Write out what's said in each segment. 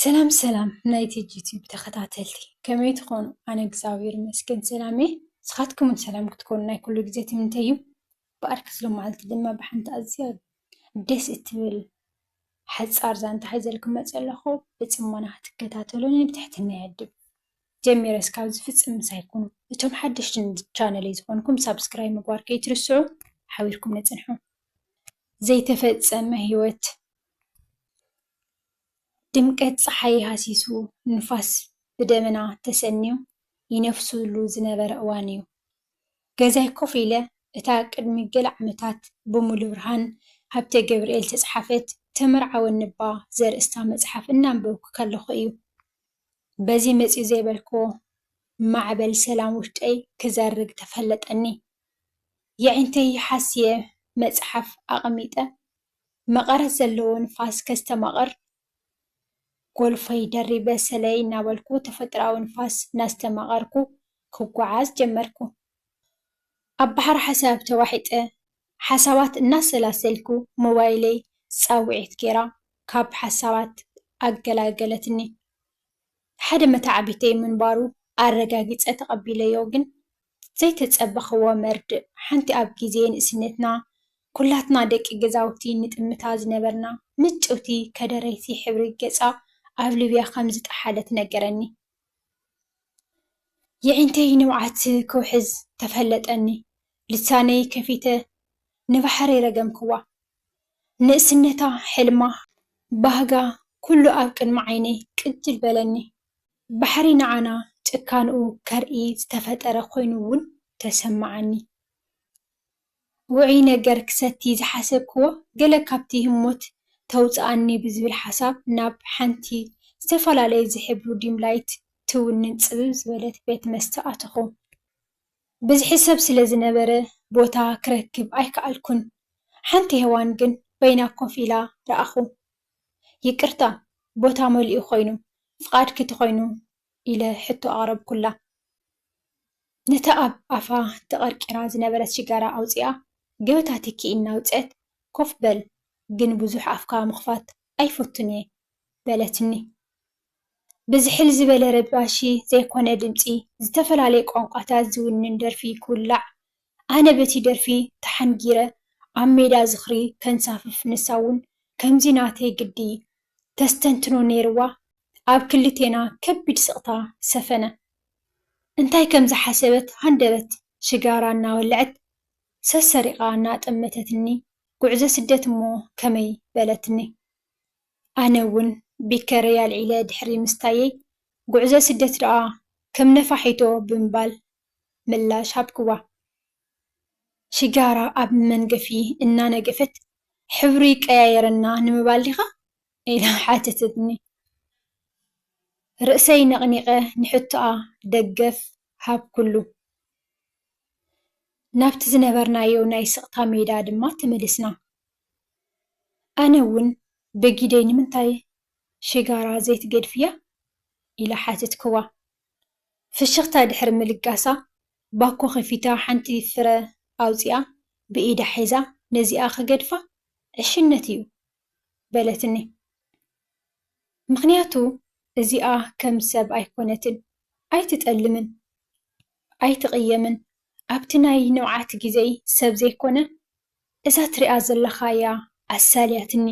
ሰላም ሰላም ናይ ቲጂ ዩቲዩብ ተኸታተልቲ ከመይ ትኾኑ? ኣነ እግዚኣብሔር ይመስገን ሰላም እየ። ንስኻትኩምን ሰላም ክትኮኑ ናይ ኩሉ ግዜ ትምንተይ እዩ። ብኣርኪ ዝሎመዓልቲ ድማ ብሓንቲ ኣዝያ ደስ እትብል ሓፃር ዛንታ ሒዘልኩም መፂኣ ኣለኹ። ብፅሞና ክትከታተሉኒ ብትሕትና ይዕድም። ጀሚረ እስካብ ዝፍፅም ምሳይ ኩኑ። እቶም ሓደሽቲ ንቻነለይ ዝኾንኩም ሳብስክራይብ ምግባር ከይትርስዑ ሓቢርኩም ንፅንሑ። ዘይተፈፀመ ህይወት ድምቀት ፀሓይ ሃሲሱ ንፋስ ብደመና ተሰንዩ ይነፍሱሉ ዝነበረ እዋን እዩ። ገዛይ ኮፍ ኢለ እታ ቅድሚ ገለ ዓመታት ብሙሉብርሃን ሃብተገብርኤል ዝተፅሓፈት ተመርዓወኒ'ባ ዘርእስታ መፅሓፍ እናንበብኩ ከለኹ እዩ። በዚ መጺኡ ዘይበልክዎ ማዕበል ሰላም ውሽጠይ ክዘርግ ተፈለጠኒ። የዒንተይ ሓስየ መጽሓፍ ኣቐሚጠ መቐረት ዘለዎ ንፋስ ከስተማቕር ጎልፈይ ደሪበ ሰለይ እናበልኩ ተፈጥሮኣዊ ንፋስ እናስተማቐርኩ ክጓዓዝ ጀመርኩ። ኣብ ባሕሪ ሓሳብ ተዋሒጠ ሓሳባት እናሰላሰልኩ ሞባይለይ ጻውዒት ጌራ ካብ ሓሳባት ኣገላገለትኒ። ሓደ መተዓቢተይ ምንባሩ ኣረጋጊጸ ተቐቢለዮ ግን ዘይተጸበኽዎ መርድእ ሓንቲ ኣብ ግዜ ንእስነትና ኩላትና ደቂ ገዛውቲ ንጥምታ ዝነበርና ምጭውቲ ከደረይቲ ሕብሪ ገጻ ኣብ ሊብያ ከም ዝጠሓለት ነገረኒ። የዒንተይ ንብዓት ክውሕዝ ተፈለጠኒ ልሳነይ ከፊተ ንባሕረይ ረገምክዋ ንእስነታ ሕልማ ባህጋ ኩሉ ኣብ ቅድሚ ዓይነይ ቅጅል በለኒ ባሕሪ ንዓና ጭካንኡ ከርኢ ዝተፈጠረ ኮይኑ ውን ተሰማዓኒ ውዑይ ነገር ክሰቲ ዝሓሰብክዎ ገለ ካብቲ ህሞት ተውጽኣኒ ብዝብል ሓሳብ ናብ ሓንቲ ዝተፈላለየ ዝሕብሩ ዲምላይት ትውንን ጽብብ ዝበለት ቤት መስተ ኣተኹ። ብዝሒ ሰብ ስለ ዝነበረ ቦታ ክረክብ ኣይከኣልኩን። ሓንቲ ሄዋን ግን በይና ኮፍ ኢላ ረኣኹ። ይቅርታ ቦታ መሊኡ ኮይኑ ፍቓድኪ ተኾይኑ ኢለ ሕቶ ኣቕረብኩላ። ነታ ኣብ ኣፋ ተቐርቂራ ዝነበረት ሽጋራ ኣውጺኣ ገበታ ትኪ እናውጽኣት፣ ኮፍ በል ግን ብዙሕ ኣፍካ ምኽፋት ኣይፈቱን'የ፣ በለትኒ። ብዝሕል ዝበለ ረባሺ ዘይኮነ ድምጺ፣ ዝተፈላለየ ቋንቋታት ዝውንን ደርፊ ክውላዕ ኣነ በቲ ደርፊ ተሓንጊረ ኣብ ሜዳ ዝኽሪ ከንሳፍፍ ንሳ ውን ከምዚ ናተይ ግዲ ተስተንትኖ ኔርዋ ኣብ ክልቴና ከቢድ ስቕታ ሰፈነ እንታይ ከም ዝሓሰበት ሃንደበት ሽጋራ እናወለዐት ሰሰሪቓ እናጠመተትኒ ጉዕዞ ስደት እሞ ከመይ በለትኒ ኣነ ውን ቢከረይ ኣልዒለ ድሕሪ ምስታየይ ጉዕዞ ስደት ደኣ ከም ነፋሒቶ ብምባል ምላሽ ሃብክዋ። ሽጋራ ኣብ መንገፊ እናነገፈት፣ ሕብሪ ቀያይረና ንምባል ዲኻ? ኢላ ሓተተትኒ። ርእሰይ ነቕኒቐ ንሕቶኣ ደገፍ ሃብኩሉ። ናብቲ ዝነበርናዮ ናይ ስቕታ ሜዳ ድማ ተመሊስና። ኣነ እውን ብጊደይ ንምንታይ ሽጋራ ዘይትገድፍያ? ኢለ ሓተትክዋ። ፍሽኽታ ድሕሪ ምልጋሳ፣ ባኮ ከፊታ ሓንቲ ፍረ ኣውጺኣ ብኢዳ ሒዛ ነዚኣ ክገድፋ ዕሽነት'ዩ በለትኒ። ምኽንያቱ እዚኣ ከም ሰብ ኣይኮነትን፣ ኣይትጠልምን፣ ኣይትቕየምን፣ ኣብቲ ናይ ንብዓት ግዜይ ሰብ ዘይኮነ እዛ ትሪኣ ዘለኻ'ያ ኣሳልያትኒ፣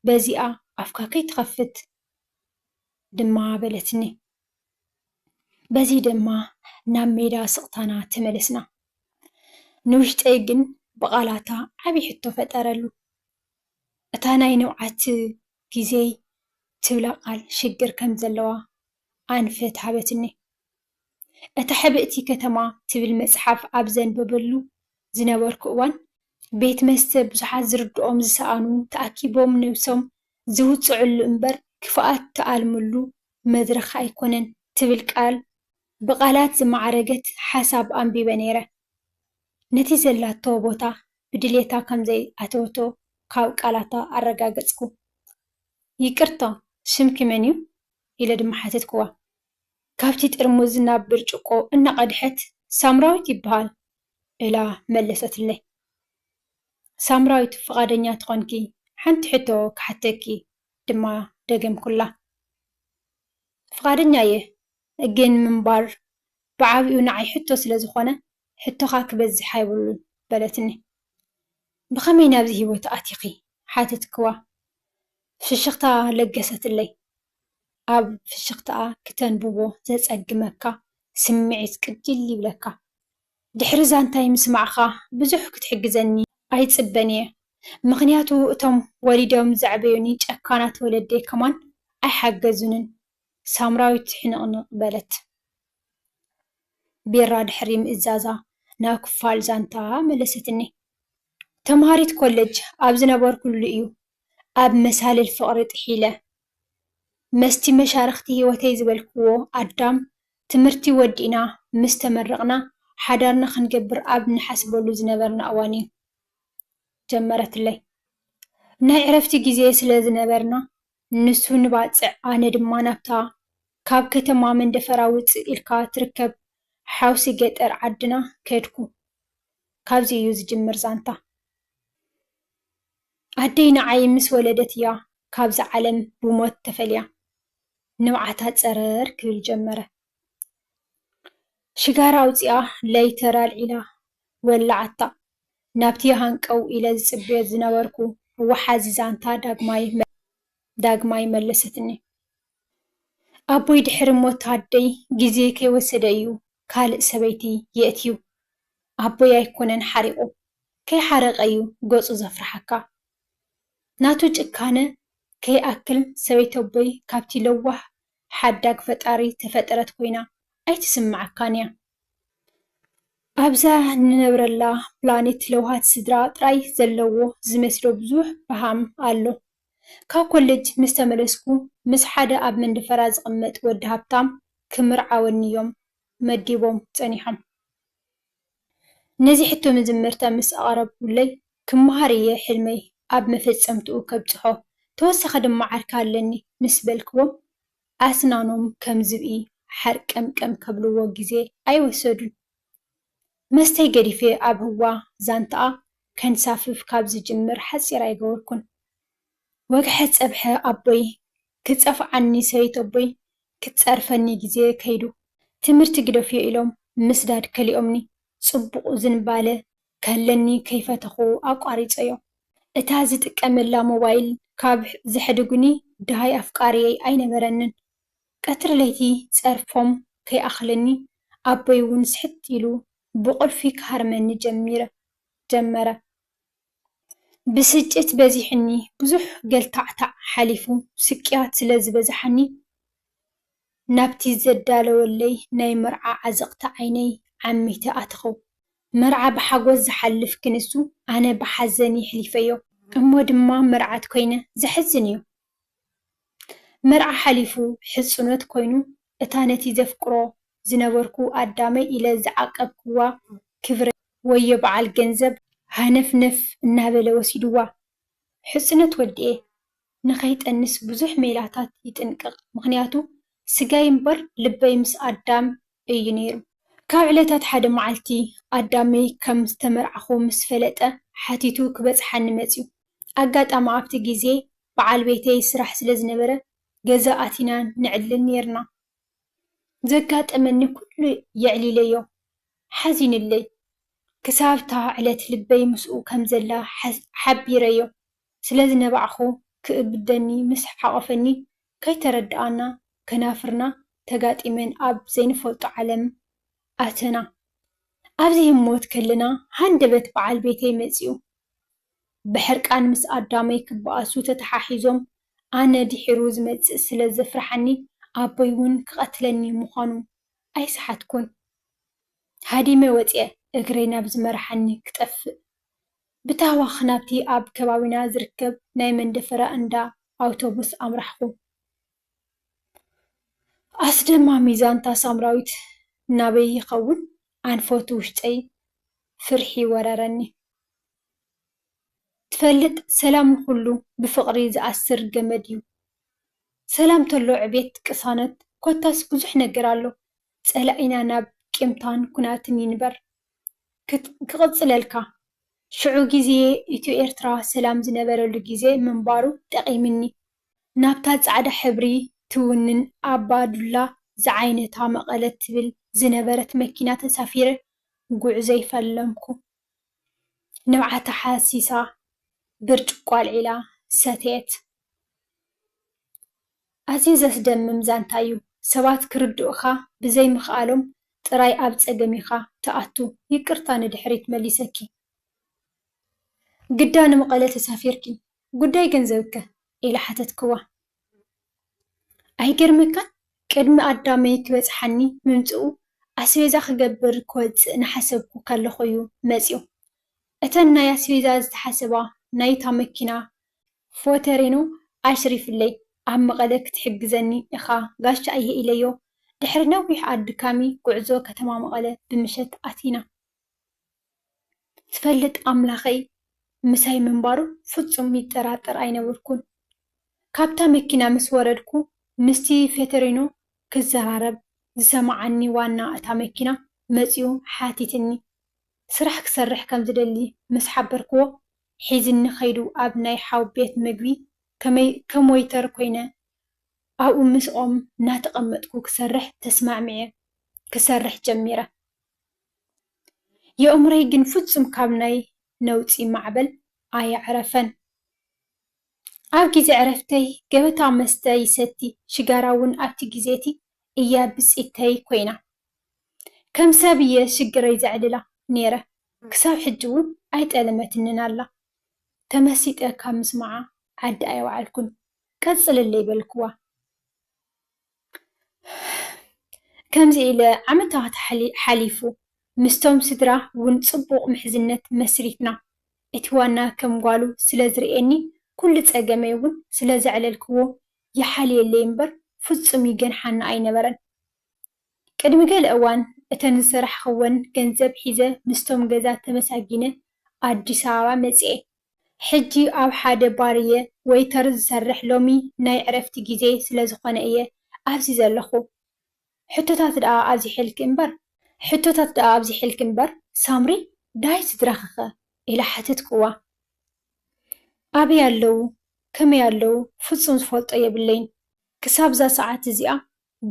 በዚኣ ኣፍካ ከይትኸፍት ድማ በለትኒ። በዚ ድማ ናብ ሜዳ ስቕታና ተመለስና። ንውሽጠይ ግን ብቓላታ ዓቢ ሕቶ ፈጠረሉ። እታ ናይ ንብዓት ግዜይ ትብላ ቃል ሽግር ከም ዘለዋ ኣንፈት ሃበትኒ። እታ ሕብእቲ ከተማ ትብል መጽሓፍ ኣብ ዘንብበሉ ዝነበርኩ እዋን፣ ቤት መስተ ብዙሓት ዝርድኦም ዝሰኣኑ ተኣኪቦም ነብሶም ዝውጽዑሉ እምበር ክፍኣት ትኣልምሉ መድረኽ ኣይኮነን ትብል ቃል ብቓላት ዝማዕረገት ሓሳብ ኣንቢበ ነይረ። ነቲ ዘላቶ ቦታ ብድሌታ ከም ዘይኣተወቶ ካብ ቃላታ ኣረጋገጽኩ። ይቅርታ ስምኪ መን'ዩ? ኢለ ድማ ሓተትኩዋ። ካብቲ ጥርሙዝ ናብ ብርጭቆ እናቐድሐት ሳምራዊት ይበሃል እላ መለሰትለይ። ሳምራዊት ፍቓደኛ ተኾንኪ ሓንቲ ሕቶ ክሓተኪ ድማ ደገምኩላ። ፍቓደኛ እየ፣ ግን ምንባር ብዓቢኡ ንዓይ ሕቶ ስለ ዝዀነ፣ ሕቶኻ ክበዝሕ ኣይብሉን፣ በለትኒ። ብኸመይ ናብዚ ህይወት ኣቲኺ? ሓተትክዋ። ፍሽኽታ ለገሰትለይ። ኣብ ፍሽኽታኣ ክተንብቦ ዘጸግመካ ስምዒት ቅጅል ይብለካ። ድሕሪ ዛንታይ ምስማዕካ ብዙሕ ክትሕግዘኒ ኣይጽበን እየ ምክንያቱ እቶም ወሊዶም ዘዕበዩኒ ጨካናት ወለደይ ከማን ኣይሓገዙንን ሳምራዊት ሕንቅንቅ በለት ቢራ ድሕሪ ምእዛዛ ናብ ክፋል ዛንታ መለሰትኒ ተማሃሪት ኮለጅ ኣብ ዝነበርኩሉ እዩ ኣብ መሳልል ፍቅሪ ጥሒለ መስቲ መሻርኽቲ ህይወተይ ዝበልክዎ ኣዳም፣ ትምህርቲ ወዲእና ምስ ተመረቕና ሓዳርና ክንገብር ኣብ ንሓስበሉ ዝነበርና እዋን'ዩ ጀመረትለይ። ናይ ዕረፍቲ ግዜ ስለ ዝነበርና፣ ንሱ ንባጽዕ ኣነ ድማ ናብታ ካብ ከተማ መንደፈራ ውጽእ ኢልካ ትርከብ ሓውሲ ገጠር ዓድና ከድኩ። ካብዚ'ዩ ዝጅምር ዛንታ። ኣደይ ንዓይ ምስ ወለደት እያ ካብዛ ዓለም ብሞት ተፈልያ። ንብዓታ ጸረር ክብል ጀመረ። ሽጋራ ኣውጺኣ ለይተር ኣልዒላ ወላዓታ። ናብቲ ሃንቀው ኢለ ዝጽበዮ ዝነበርኩ ወሓዚ ዛንታ ዳግማይ መለሰትኒ። ኣቦይ ድሕሪ ሞት ኣደይ ግዜ ከይወሰደ እዩ ካልእ ሰበይቲ የእትዩ። ኣቦይ ኣይኮነን ሓሪቑ። ከይሓረቀ እዩ ገጹ ዘፍርሓካ። ናቱ ጭካነ ከይኣክል ሰበይቲ ኣቦይ ካብቲ ለዋህ ሓዳግ ፈጣሪ ተፈጠረት ኮይና ኣይትስምዓካን እያ። ኣብዛ ንነብረላ ፕላኔት ለውሃት ስድራ ጥራይ ዘለዎ ዝመስሎ ብዙሕ በሃም ኣሎ። ካብ ኮለጅ ምስ ተመለስኩ ምስ ሓደ ኣብ መንደፈራ ዝቅመጥ ወዲ ሃብታም ክምርዓወኒ እዮም መዲቦም ጸኒሖም። ነዚ ሕቶ መጀመርታ ምስ ኣቕረብኩለይ፣ ክመሃር እየ ሕልመይ ኣብ መፈጸምትኡ ከብጽሖ፣ ተወሳኺ ድማ ዓርኪ ኣለኒ ምስ በልክዎም፣ ኣስናኖም ከም ዝብኢ ሓርቀምቀም ከብልዎ ግዜ ኣይወሰዱን። መስተይ ገዲፈ ኣብ ህዋ ዛንታኣ ከንሳፍፍ ካብ ዝጅምር ሓጺር ኣይገበርኩን። ወግሐ ጸብሐ ኣቦይ ክጸፍዓኒ ሰበይተቦይ ክትጸርፈኒ ግዜ ከይዱ ትምህርቲ ግደፍዮ ኢሎም ምስዳድ ከሊኦምኒ ጽቡቕ ዝንባለ ከለኒ ከይፈተኹ ኣቋሪጸዮ እታ ዝጥቀመላ ሞባይል ካብ ዘሕድጉኒ ድሃይ ኣፍቃርየይ ኣይነበረንን ቀትሪ ለይቲ ጸርፎም ከይኣኽለኒ ኣቦይ ውን ስሕት ኢሉ ብቑልፊ ክሃርመኒ ጀመረ ብስጭት በዚሑኒ ብዙሕ ገልታዕታዕ ሓሊፉ ስቅያት ስለ ዝበዝሓኒ ናብቲ ዘዳለወለይ ናይ መርዓ ዓዘቕቲ ዓይነይ ዓሚተ ኣተኽኹ። መርዓ ብሓጎስ ዝሓልፍ ክንሱ ኣነ ብሓዘን የሕሊፈዮ። እሞ ድማ መርዓት ኮይነ። ዘሕዝን'ዩ። መርዓ ሓሊፉ ሕጽኖት ኮይኑ እታ ነቲ ዘፍቅሮ ዝነበርኩ ኣዳመይ ኢለ ዝዓቀብክዋ ክብረይ ወዮ በዓል ገንዘብ ሃነፍነፍ እናበለ ወሲድዋ። ሕጽኖት ወዲኤ ንከይጠንስ ብዙሕ ሜላታት ይጥንቅቅ ምክንያቱ ስጋይ እምበር ልበይ ምስ ኣዳም እዩ ነይሩ። ካብ ዕለታት ሓደ መዓልቲ ኣዳመይ ከም ዝተመርዓኩ ምስ ፈለጠ ሓቲቱ ክበጽሓኒ መጽዩ። ኣጋጣሚ ኣብቲ ግዜ በዓል ቤተይ ስራሕ ስለ ዝነበረ ገዛ ኣቲና ነዕልል ኔርና። ዘጋጠመኒ ኩሉ የዕሊለዮ። ሓዚኑለይ። ክሳብ'ታ ዕለት ልበይ ምስኡ ከም ዘላ ሓቢረዮ ስለ ዝነባዕኩ ክእብደኒ ምስ ሓቖፈኒ ከይተረዳኣና ከናፍርና ተጋጢመን ኣብ ዘይንፈልጦ ዓለም ኣተና። ኣብዚ ህሞት ከለና ሃንደበት በዓል ቤተይ መጺኡ ብሕርቃን ምስ ኣዳመይ ክበኣሱ ተተሓሒዞም፣ ኣነ ድሒሩ ዝመጽእ ስለ ዘፍርሓኒ ኣቦይ ውን ክቐትለኒ ምዃኑ ኣይሰሓትኩን። ሃዲመ ወጺኣ እግረይ ናብ ዝመርሓኒ ክጠፍእ፣ ብታህዋኽ ናብቲ ኣብ ከባቢና ዝርከብ ናይ መንደፈራ እንዳ ኣውቶቡስ ኣምራሕኩ። ኣስደማሚ ዛንታ ሳምራዊት ናበይ ይኸውን ኣንፈቱ ውሽጠይ ፍርሒ ወረረኒ። ትፈልጥ ሰላም ንኹሉ ብፍቕሪ ዝኣስር ገመድ እዩ። ሰላም ተሎ ዕቤት ቅሳነት ኮታስ ብዙሕ ነገር ኣሎ። ጸላኢና ናብ ቂምታን ኩናትን ይንበር። ክቕጽለልካ ሽዑ ግዜ ኢትዮ ኤርትራ ሰላም ዝነበረሉ ግዜ ምንባሩ ጠቒምኒ። ናብታ ጻዕዳ ሕብሪ ትውንን ኣባ ዱላ ዝዓይነታ መቐለ ትብል ዝነበረት መኪና ተሳፊረ ጉዕዞይ ፈለምኩ። ንብዓታ ሓሲሳ ብርጭቆ ኣልዒላ ሰተየት። ኣዝዩ ዘስደምም ዛንታ እዩ፣ ሰባት ክርድኡኻ ብዘይምኽኣሎም ጥራይ ኣብ ጸገም ኢኻ ትኣቱ፣ ይቅርታ ንድሕሪት መሊሰኪ። ግዳ ንመቐለ ተሳፊርኪ ጉዳይ ገንዘብ'ከ? ኢለ ሓተትክዋ። ኣይገርመካን ቅድሚ ኣዳመይ ክበጽሓኒ ምምጽኡ ኣስቤዛ ክገብር ክወጽእ ናሓሰብኩ ከለኩ እዩ መጽዩ እተን ናይ ኣስቤዛ ዝተሓሰባ ናይታ መኪና ፎተሪኖ ኣሽሪፍለይ ኣብ መቀለ ክትሕግዘኒ እኻ ጋሻ እየ ኢለዮ ድሕሪ ነዊሕ ኣድካሚ ጉዕዞ ከተማ መቀለ ብምሸት ኣቲና ዝፈልጥ ኣምላኸይ ምሳይ ምንባሩ ፍጹም ይጠራጠር ኣይነበርኩን። ካብታ መኪና ምስ ወረድኩ፣ ምስቲ ፌተሪኖ ክዘራረብ ዝሰምዓኒ ዋና እታ መኪና መጺኡ ሓቲትኒ። ስራሕ ክሰርሕ ከም ዝደሊ ምስ ሓበርክዎ፣ ሒዝኒ ከይዱ ኣብ ናይ ሓው ቤት መግቢ ከም ወይተር ኮይነ ኣብኡ ምስኦም እናተቐመጥኩ ክሰርሕ ተስማዕሚዐ ክሰርሕ ጀሚረ። የእምሮይ ግን ፍጹም ካብ ናይ ነውጺ ማዕበል ኣየዕረፈን። ኣብ ግዜ ዕረፍተይ ገበታ መስተ ይሰቲ፣ ሽጋራ ውን ኣብቲ ግዜቲ እያ ብጺተይ ኮይና። ከም ሰብ እየ ሽግረይ ዘዕልላ ኔረ። ክሳብ ሕጂ ውን ኣይጠለመትንን ኣላ። ተመሲጠ ካብ ምስምዓ ዓዲ ኣይወዓልኩን። ቀጽልለይ በልክዋ። ከምዚ ኢለ ዓመታት ሓሊፉ ምስቶም ስድራ ውን ጽቡቕ ምሕዝነት መስሪትና እቲ ዋና ከም ጓሉ ስለ ዝርእየኒ ኩሉ ጸገመይ ውን ስለ ዘዕለልክዎ ይሓልየለይ እምበር ፍጹም ይገንሓኒ ኣይነበረን ቅድሚ ገለ እዋን እተን ዝሰራሕክወን ገንዘብ ሒዘ ምስቶም ገዛ ተመሳጊነ ኣዲስ ኣበባ መጺኤ ሕጂ ኣብ ሓደ ባር እየ ወይተር ዝሰርሕ ሎሚ ናይ ዕረፍቲ ግዜይ ስለ ዝኾነ እየ ኣብዚ ዘለኹ ሕቶታት ደኣ ኣብዚሐልኪ እምበር። ሕቶታት ደኣ ኣብዚሐልኪ እምበር ሳምሪ ዳይ ስድራኺ'ኸ ኢለ ሓተትክዋ። ኣበይ ኣለዉ ከመይ ኣለዉ ፍጹም ዝፈልጦ የብለይን ክሳብ እዛ ሰዓት እዚኣ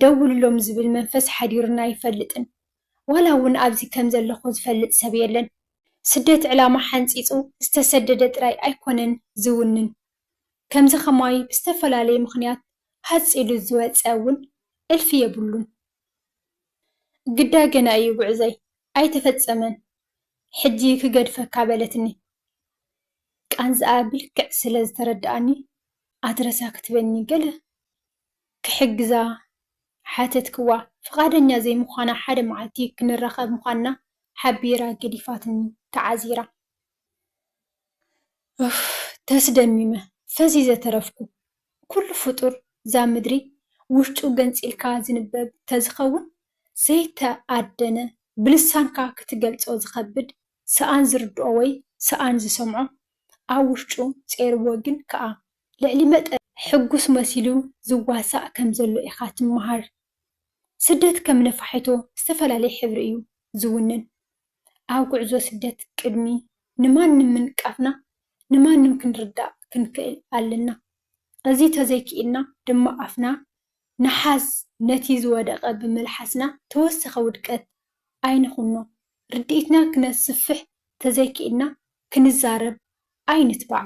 ደውልሎም ዝብል መንፈስ ሓዲሩኒ ኣይፈልጥን። ዋላ እውን ኣብዚ ከም ዘለኹ ዝፈልጥ ሰብ የለን። ስደት ዕላማ ሓንጺጹ ዝተሰደደ ጥራይ ኣይኮነን ዝውንን። ከምዚ ከማይ ብዝተፈላለየ ምኽንያት ሃጽ ኢሉ ዝወጸ እውን እልፊ የብሉን። ግዳ ገና እዩ ጉዕዞይ፣ ኣይተፈጸመን። ሕጂ ክገድፈካ በለትኒ። ቃንዝኣ ብልክዕ ስለ ዝተረድኣኒ ኣትረሳ ክትበኒ ገለ ክሕግዛ ሓተትክዋ። ፍቓደኛ ዘይምዃና ሓደ መዓልቲ ክንራኸብ ምዃንና ሓቢራ ገዲፋትኒ ተዓዚራ። ኡፍ ተስደሚመ ፈዚዘ ተረፍኩ። ኩሉ ፍጡር እዛ ምድሪ ውሽጡ ገንጺልካ ዝንበብ ተዝኸውን ዘይተኣደነ ብልሳንካ ክትገልጾ ዝኸብድ ሰኣን ዝርድኦ ወይ ሰኣን ዝሰምዖ ኣብ ውሽጡ ጼርዎ ግን ከኣ ልዕሊ መጠን ሕጉስ መሲሉ ዝዋሳእ ከም ዘሎ ኢኻ ትመሃር። ስደት ከም ነፋሒቶ ዝተፈላለየ ሕብሪ እዩ ዝውንን። ኣብ ጉዕዞ ስደት ቅድሚ ንማንም ምንቃፍና ንማንም ክንርዳእ ክንክእል ኣለና። እዚ ተዘይክኢልና ድማ ኣፍና ንሓዝ ነቲ ዝወደቐ ብምልሓስና ተወሰኸ ውድቀት ኣይንኹኖ። ርድኢትና ክነስፍሕ ተዘይክኢልና ክንዛረብ ኣይንትባዕ።